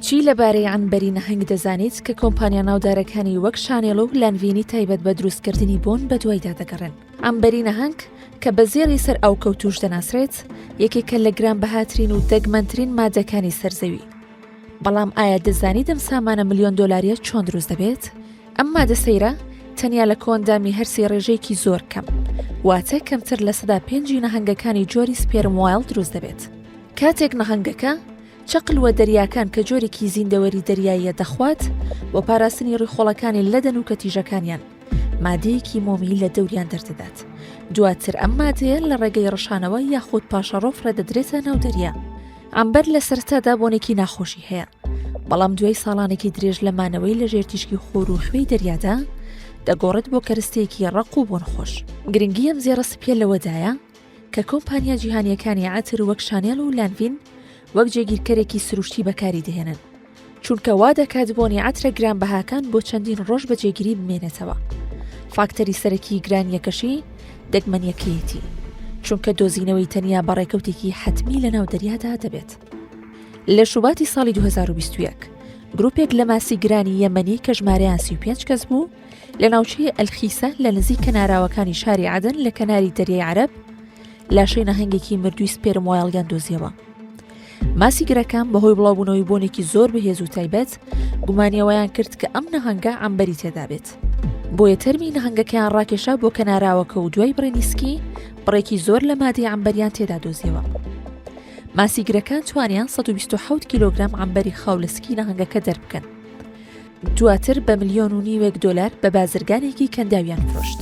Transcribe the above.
چی لەبارەی عەنبەری نەهەنگ دەزانیت کە کۆمپانیا ناودارەکانی وەک شانێڵە و لانڤینی تایبەت بە دروستکردنی بۆن بە دوایدا دەگەڕێن ئەمبەری نەهەنگ کە بە زێڵی سەر ئەو کەوتوش دەناسرێت یەکێکە لە گران بەهاترین و دەگمەنترین مادەکانی سەرزەوی بەڵام ئایا دەزانی دەم سامانە میلیۆن دلاریە چۆن دروست دەبێت ئەم مادە سەیرە تەنیا لە کۆندامی هەرسی ڕێژەیەکی زۆر کەم واتە کەمتر لە سەدا پێنجی نەهنگەکانی جۆری سپێرم وایل دروست دەبێت کاتێک نەهەنگەکە چەقل وە دەریاکان کە جۆرێکی زیندەوەری دەریاییە دەخوات بۆ پاراستنی ڕیخۆڵەکانی لە دەنوکە تیژەکانیان مادەیەکی مۆمی لە دەوریان دەردەدات دواتر ئەم مادەیە لە ڕێگەی ڕشانەوە یاخود پاشەڕۆف ڕێدەدرێتە ناو دەریا ئەمبەر لە سەرتادا بۆنێکی ناخۆشی هەیە بەڵام دوای ساڵانێکی درێژ لە مانەوەی لە ژێرتیشکی خۆر و خوێی دەریادا دەگۆڕێت بۆ کەرستەیەکی ڕق و بۆن خۆش گرنگی ئەم زێڕە سپیە لەوەدایە کە کۆمپانیا جیهانییەکانی عەتر وەک شانێل و لانڤین وەک جێگیرکەرێکی سروشتی بەکاری دەهێنن، چونکە وا دەکات بۆنی عەترە گرانبەهاکان بۆ چەندین ڕۆژ بە جێگیری بمێنێتەوە. فاکتەری سەرەکیی گرانییەکەشی دەگمەنییەکەیەتی، چونکە دۆزینەوەی تەنیا بە ڕێکەوتێکی حەتمی لەناو دەریادا دەبێت. لە شوباتی ساڵی دوو هەزار و بیست و یەک، گرووپێک لە ماسی گرانی یەمەنی کە ژمارەیان سی و پێنج کەس بوو، لە ناوچەی ئەلخیسە لە نزیک کەناراوەکانی شاری عادن لە کەناری دەریای عرب لاشەی نەهنگێکی مردووی سپێرم وایڵگەن دۆزیەوە ماسی گرەکان بەهۆی بڵاوبوونەوەی بۆنێکی زۆر بەهێز و تایبەت گومانیەوەیان کرد کە ئەم نەهنگە ئەمبەری تێدابێت بۆیە تەرمی نەهنگەکەیان ڕاکێشا بۆ کەناراوەکە و دوای بڕێنیسکی بڕێکی زۆر لە مادی ئەمبەریان تێدا دۆزیەوە ماسیگرەکان توانیان 1970 کیلوگرام ئەمبەری خاو لە سکی نەهنگەکە دەربکەن دواتر بە ملیۆن و نیوێک دۆلار بە بازرگانێکی کەنداویان فرۆشت.